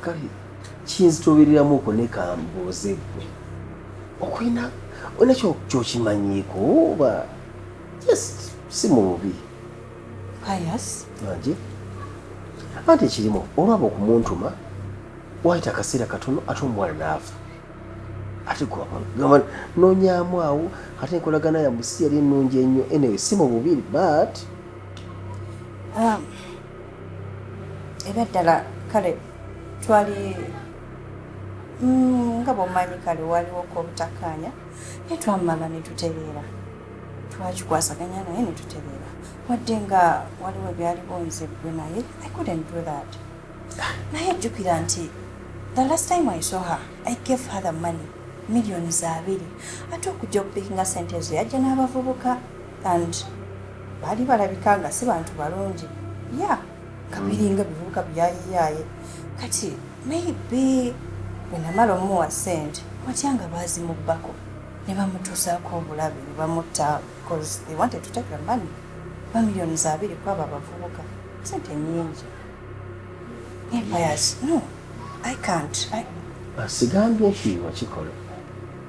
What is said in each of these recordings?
kale kinzitobereramu okwo ne kambuuze gwe okulina olina kyokimanyiiko oba just si mu bubi pius anje anti ekirimu olwaba okumuntuma wayita akaseera katono ate omuwala naafa ate gwagamba nonyamu awo ate enkolagana yamusi yali ennungi ennyo anyway si mu bubiri but Um, ebyaddala kale twali mm, nga bwomanyi kale waliwo kobutakaanya naye twamala netutereera twakikwasaganya naye netutereera wadde nga waliwo ebyaliwo nze gwe naye i couldn't do that naye jjukira nti the last time i saw her i gave her the money millioni za abiri ate okujja okupikinga sente ezo yajja n'abavubuka And baali balabika nga si bantu balungi ya kabiringa bivubuka byayiyaye kati maybe bwenamala omuwa sente watya nga baazimubbako ne bamutuusaako obulabe ne bamutta bcause they wanted to take the money bamiliyoni za abiri kwabo abavubuka sente nyingi empires no i can't sigambye nti wakikola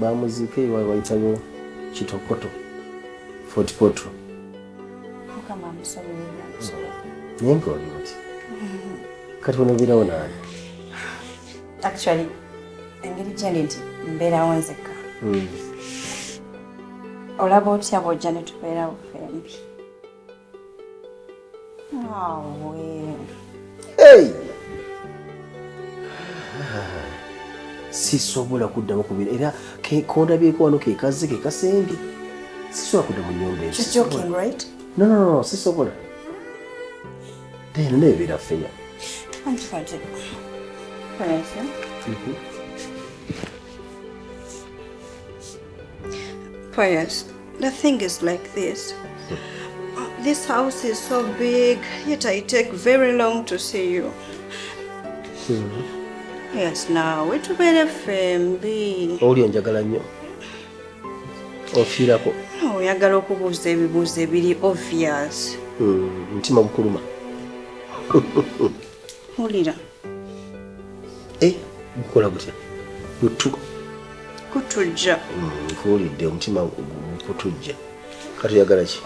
bamuziika ewawe wayitayo kitokoto fotipotro naye nkaoli oti kati onobeerawo naani actually engeri gyendi nti mbeerawo nzekka hmm. olaba otya bwojja netubeerawo fembi Hey! sisobola kuddamu kubira era kondabyeko wano kekazze kekasembye sisobola kudda mu nyumba eyo sisobola then nebeera feya Pius, The thing is like this. This house is so big, yet I take very long to see you. Mm-hmm. Yes, now we to better family. Oli onjagala nnyo. Ofiirako. No, oyagala okubuuza ebibuuzo ebiri obvious. Mm, mutima gukuluma. Wulira. eh, gukola gutya gutu kutujja mm, nkuwulidde omutima gukutujja kati oyagala ki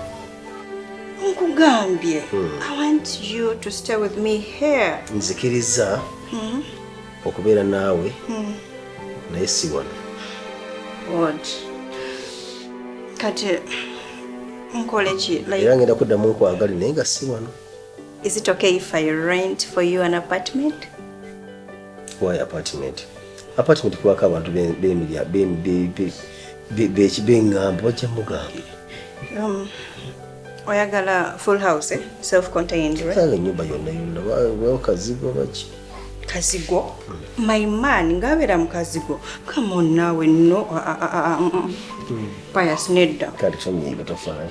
nkugambye hmm. i want you to stay with me here nzikiriza hmm. okubeera naawe hmm. naye si wano od kati nkoleki era ngenda kuddamu nkwagale naye nga si wano Is it okay if I rent for you an apartment? Why apartment? Apartment kubako abantu bemilya bekibengambo bajja mugambo. Um, oyagala full house eh? self contained right? Sala nyumba yonna yonna wao kazigo baki? Kazigo? Mm. My man ngabera mukazigo. Come on nawe no. Uh, uh, uh, uh, mm. Pious nedda. Kati kusomye batofana.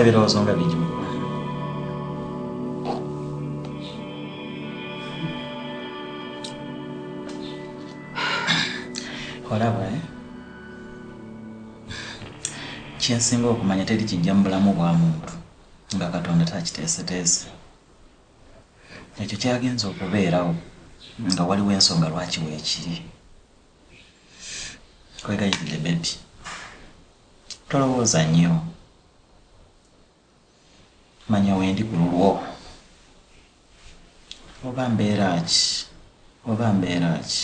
ebirowoozo nga bingi mu bulamu olaba eh? kyensinga okumanya teri kijja mu bulamu bwa muntu nga katonda takiteeseteese ekyo kyagenza okubeerawo nga waliwo ensonga lwaki weekiri kwegayirire bebi tolowooza nnyo manya wendi ku lulwo oba mbeera ki oba mbeera ki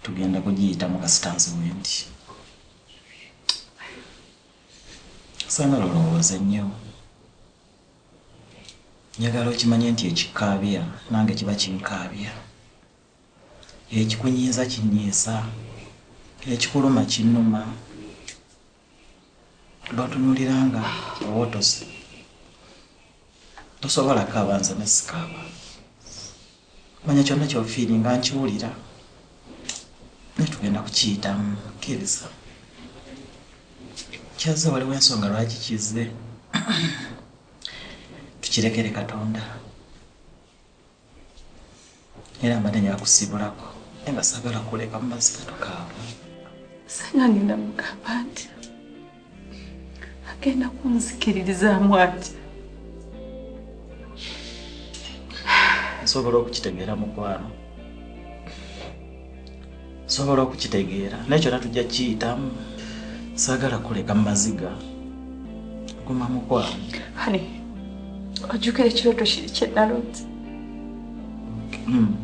tugenda kugiyitamu kasitansi wendi sanga lolowooze nnyo Njagala okimanye nti ekikkaabya nange kiba kinkaabya, ekikunyiiza kinnyiiza, ekikuluma kinnuma. B'otunuulira nga owotose tosobola kaaba nze ne sikaaba. manya kyonna kyofiiringa nkiwulira naye tugenda kukiyitamu kkiriza kyazze waliwo ensonga lwaki kizze tukirekere katonda era mbadde nyakusibulako naye nga sagala kuleka mumazika tukaaba sanga ngenda mugamba nti agenda kunzikiririzaamu ati nsobola okukitegeera mukwano nsobola okukitegeera naye kyona tujja kiyitamu saagala kuleka mumaziga guma mukwano ani ojjukira ekirooto kiri kyenalooti hmm.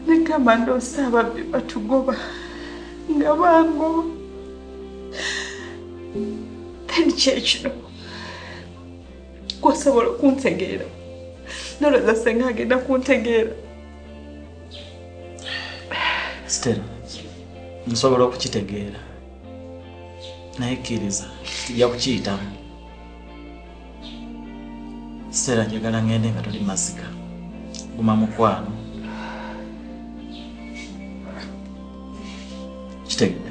negamba ndoosa ababbi batugoba nga bangoba then kyekino gwosobola okuntegeera nolowooza senga agenda kuntegeera stela nsobola okukitegeera naye kkiriza tujja kukiyitamu Sera njagala ngende nga tuli mazika. Guma mukwano. Kitegedde.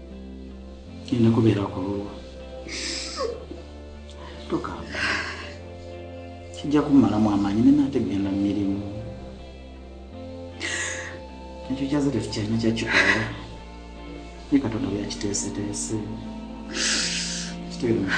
Nina kubeera ku lulwo. Toka. Kijja kumalamu amaanyi ne nate genda mu mirimu. Ekyo kyaze tetukyalina kyakikola. Ye Katonda byakiteeseteese. Kitegeera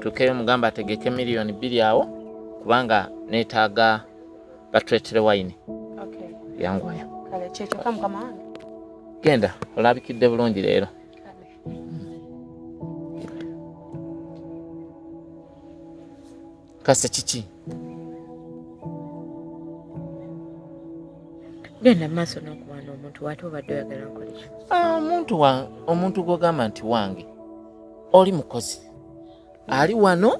tukeyo mugamba ategeke miliyoni bbiri awo kubanga neetaaga batuletere wayini yangwayo genda olabikidde bulungi leero Kasa kiki? Genda maaso n'okuwaana omuntu wate obadde oyagala nkole ki? Ah, omuntu wa omuntu gw'ogamba nti wange oli mukozi ali wano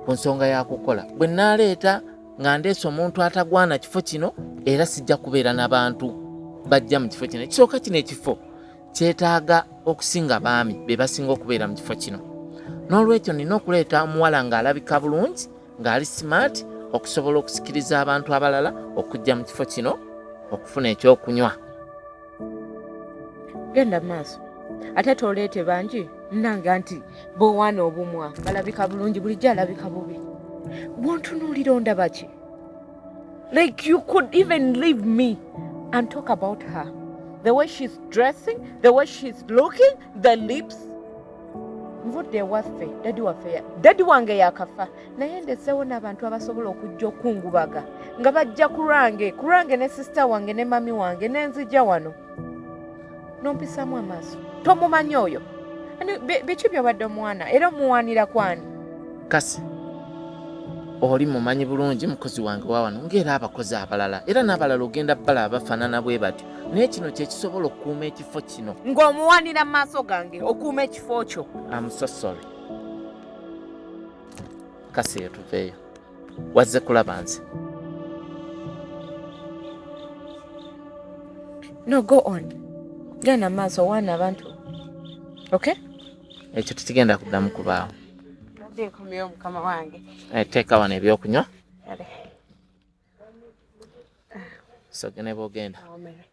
ku nsonga ya kukola bwe nnaaleeta nga ndeese omuntu atagwana kifo kino era sijja kubeera na bantu bajja mu kifo kino ekisooka kino ekifo kyetaaga okusinga baami be basinga okubeera mu kifo kino n'olwekyo nina okuleeta omuwala ng'alabika bulungi ng'ali smart okusobola okusikiriza abantu abalala okujja mu kifo kino okufuna ekyokunywa genda maaso ate toleete bangi nanga nti bowaana obumwa balabika bulungi bulijjo alabika bubi bwontunuulira ondabaki Like you could even leave me and talk about her. The way she's dressing, the way she's looking, the lips. nvudde ewaffe dadi waffe dadi wange yakafa naye ndeseewo n'abantu abasobola okujja okungubaga nga bajja ku lwange ku lwange ne sisita wange ne mami wange nenzija wano nompisamu amaaso tomumanyi oyo biki byobadde omwana era omuwanira kwani kasi oli mumanyi bulungi mukozi wange wawano ngaera abakozi abalala era n'abalala ogenda bala abafanana bwe batyo naye kino kyekisobola okukuuma ekifo kino ng'omuwanira maaso gange okuuma ekifo kyo amusosole kasi etuveeyo wazze kulaba nze no go on genda maaso waana abantu okay ekyo tekigenda kuddamu kubaawo eh, teeka wano ebyokunywa sogene bwogenda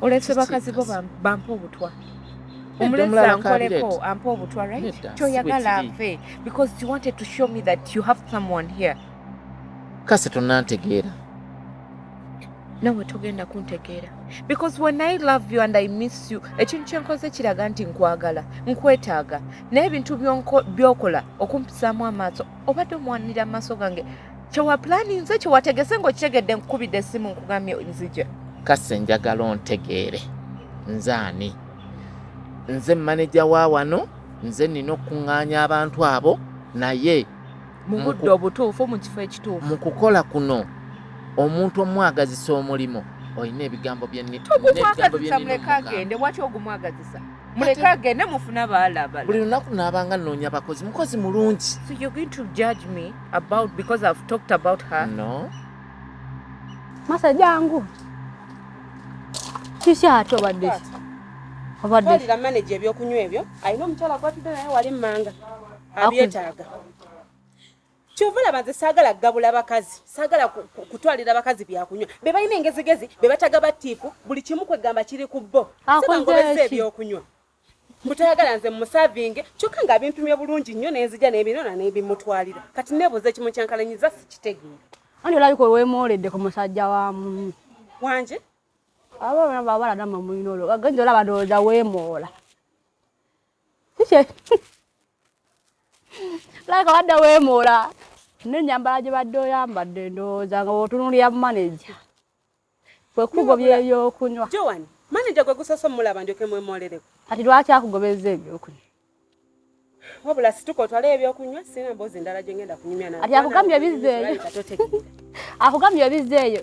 olese bakazi bo bampa obutwa omulezi ankoleko ampa obutwa right kyoyagala ave because you wanted to show me that you have someone here kasi tonantegeera nawe togenda kuntegeera because when i love you and i miss you ekintu kyenkoze kiraga nti nkwagala nkwetaaga naye ebintu byokola okumpisaamu amaaso obadde omuwanira amaaso gange kyewapulaninze kyewategese ngaokitegedde nkukubidde esimu nkugamye nzija kase njagala ontegeere nze ani nze maneja wa wano nze nina okukuŋŋaanya abantu abo naye mu budde obutuufu mu kifo ekituufu mu kukola kuno omuntu omwagazisa omulimu olina ebigambo byenitogumu agende waki ogumwagazisa muleke agende mufuna baalabala buli lunaku naabanga nnoonya bakozi mukozi mulungi so you're going to judge me about because i've talked about her no masa jangu kiki ate obadde obadde manager ebyokunywa ebyo alina omukyala gwatudde naye wali mmanga abyetaaga kyova laba nze saagala kugabula bakazi saagala kutwalira bakazi byakunywa be balina engezigezi be bataga batiipu buli kimu kwegamba kiri ku bo sibangobeza ebyokunywa mutayagala nze musavinge kyokka nga abimpimye bulungi nnyo nenzija nebinona nebimutwalira kati nebuuza ekimu kyankalanyiza sikitegeera ani olabika olwemooledde ku musajja wa mumi wanje abaana babala namwe mulina olwo agenza olaba ndowooza weemoola laka wadde weemoola n'ennyambala gye badde oyambadde ndowooza nga bwotunulira maneja kwe kugobya ebyokunywa joan maneja gwe gusoose omulaba ndyoke mwemooleleko kati lwaki akugobezza ebyokunywa wabula situka otwale ebyokunywa sina mboozi ndala gye ngenda kunyumya naati akugambye bizzeeyo akugambye bizzeeyo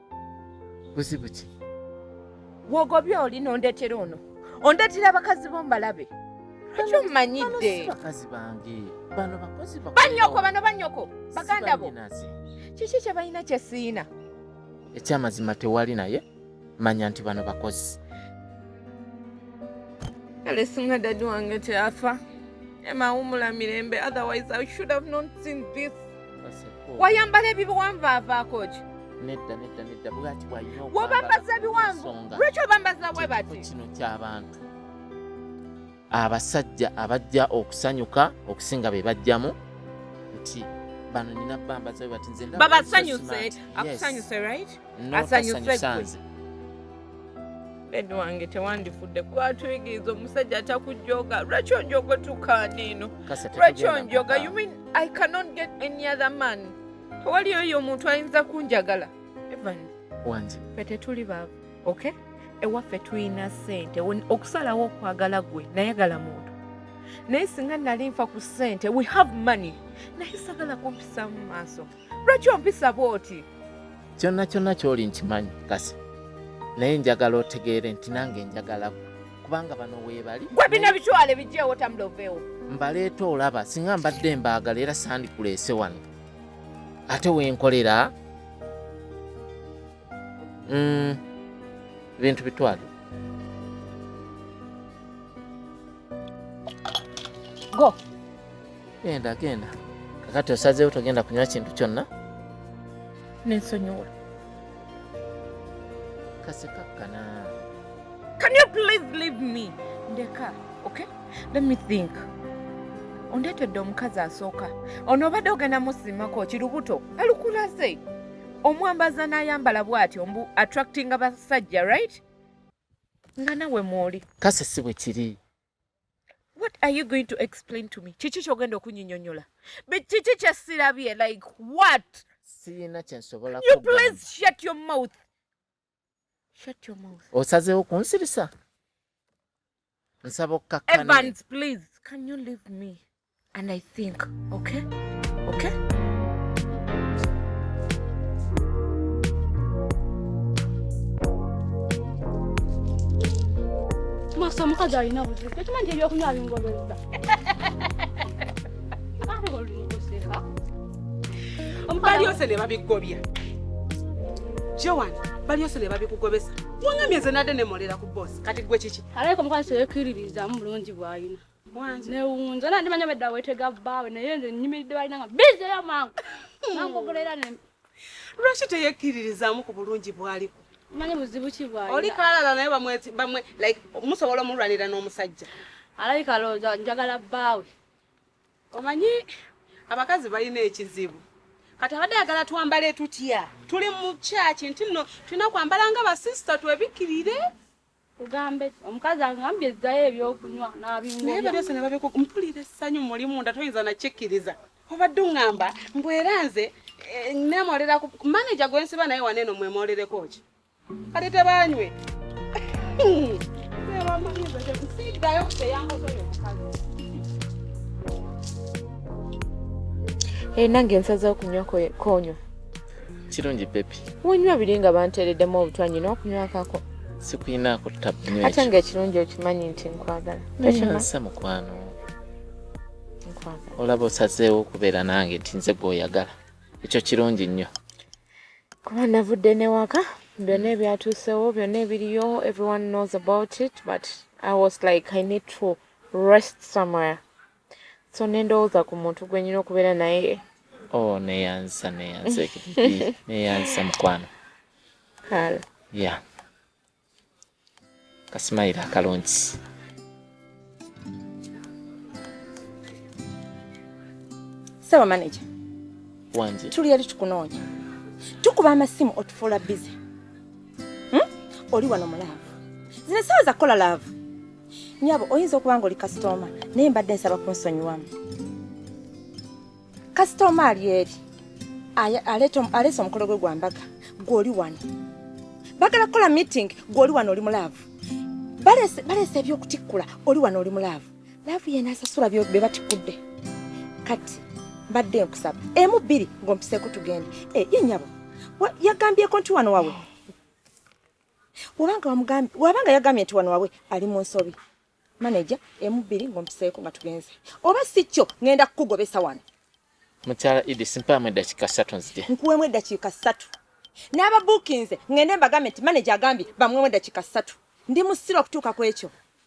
buzibu ki wogobye oli nondetera ono ondetera abakazi bo mbalabe lwaki omumanyidde bakazi bange bano bakozi banyoko bano banyoko baganda bo kiki kyebalina kyesiina ekyamazima tewali naye manya nti bano bakozi kale singa dadi wange teyafa emawumula mirembe otherwise i should have not seen this wayambala ebibiwanvu avaako ki nedda nedda nedda bwati bwalina wobambaza ebiwanvu lwaki obambaza bwe bati kino kyabantu abasajja abajja okusanyuka okusinga be bajjamu nti bano nina bambaza bwe bati nze babasanyuse akusanyuse right asanyusanze bed wange tewandifudde kuba atuyigiriza omusajja atakujjoga lwaki onjoga tukaana eno lwaki onjoga you mean i cannot get any other man tewali oyo omuntu ayinza kunjagala evan wange fe tetuli baavu okay ewaffe tulina sente okusalawo okwagala gwe nayagala muntu naye singa nali nfa ku sente we have money naye sagala kumpisaamu maaso lwaki ompisa bwoti kyonna kyonna kyoli nkimanyi kasi naye njagala otegeere nti nange njagala kubanga bano weebali gwe bino bitwale bijjeewo tamuloveewo mbaleeta olaba singa mbadde mbaagala era sandikuleese wano ate wenkolera mm, bintu bitwale go Genda genda. Kakati osazeewo togenda kunywa kintu kyonna? Nensonyiwa. Kasekakkana. Can you please leave me? Ndeka, okay? Let me think. Ondeetedde omukazi asooka. Ono obadde ogenda musimako kirubuto. Alukulaze. Omwambaza n'ayambala bw'atyo mbu attracting abasajja, right? Nga nawe mw'oli. Kase si bwe kiri. what are you going to explain to me kiki kyogenda okunyinyonyola kiki kyesirabye like what sirina kyensobola you please shut your mouth shut your mouth osazeewo kunsirisa nsaba okkakkana evans please can you leave me and I think okay okay masa omukazi alina buzibu tokimanyi nti ebyokunywa bingobezza balyose ne babigobya joan balyose ne babikugobesa wangambye nze nadde nemolera ku bosi kati gwe kiki alaika omukazi teyekiririzamu bulungi bwalina newunza na ndimanya bedda wetega bbaawe naye nze nyimiridde balina nga bizeyo mangu nangogula era ne lwaki teyekkiririzaamu ku bulungi bwaliko manyi buzibu ki bwali oli kalala naye bamwe bamwe like musobola omulwanira n'omusajja alabika looza njagala bbaawe omanyi abakazi balina ekizibu kati abadde ayagala twambale tutya tuli mu kyaki nti no tulina kwambala nga basisita twebikkirire Kugambe omukazi angambye zzayo ebyokunywa n'abingoya. Naye byose ne babikuku mpulira essanyu muli munda toyinza nakikkiriza. Obadde ungamba mbu era nze eh, nemoolera ku maneja gwe nsiba naye wano eno mwemoolereko ki? Kati tebanywe. Siddayo kuteyangosoyo omukazi. Eh, nange nsazeewo kunywa konyo kirungi pepi wonywa biri nga banteereddemu obutwa nyina okunywakako sikuyinaako tabnyo ate nga ekirungi okimanyi nti nkwagala nayonsa mukwano olaba osazeewo okubeera nange nti nze gweoyagala ekyo kirungi nnyo kuba navudde newaka byonna ebyatuusewo byonna ebiriyo everyone knows about it but i was like i need to rest somewhere so nendowooza ku muntu gwenyina okubeera naye oh neyanzisa neyanzisa neyanzisa mukwano kale ya kasimayira akalungi saba manager wanje tuli yali tukunoonya tukuba amasimu otufuula bize hmm? oli wano mulaavu zino esawa zakukola laavu Nyabo, oyinza okuba ng'oli kasitooma naye mbadde nsaba kunsonyiwamu. Kasitooma ali eri aleese omukolo gwe gwa mbaga, gwe oli wano. Bagala kukola meeting, gwe oli wano oli mu laavu. Baleese eby'okutikkula, oli wano oli mu laavu. Laavu yena asasula bye batikkudde. Kati mbadde nkusaba emu bbiri ng'ompiseeko tugende. Eh, ye nyabo, yagambyeko nti wano wawe wabanga wamugambye wabanga yagambye nti wano wabwe ali mu nsobi maneja emu bbiri ng'ompiseeko nga tugenze oba si kyo ngenda kukugobesa wano mukyala idi simpaamu eddakiika ssatu nzije nkuwemu eddakiika ssatu n'ababuukinze ngende mbagambye nti maneja agambye bamwemu eddakiika ssatu ndi musira okutuuka ku ekyo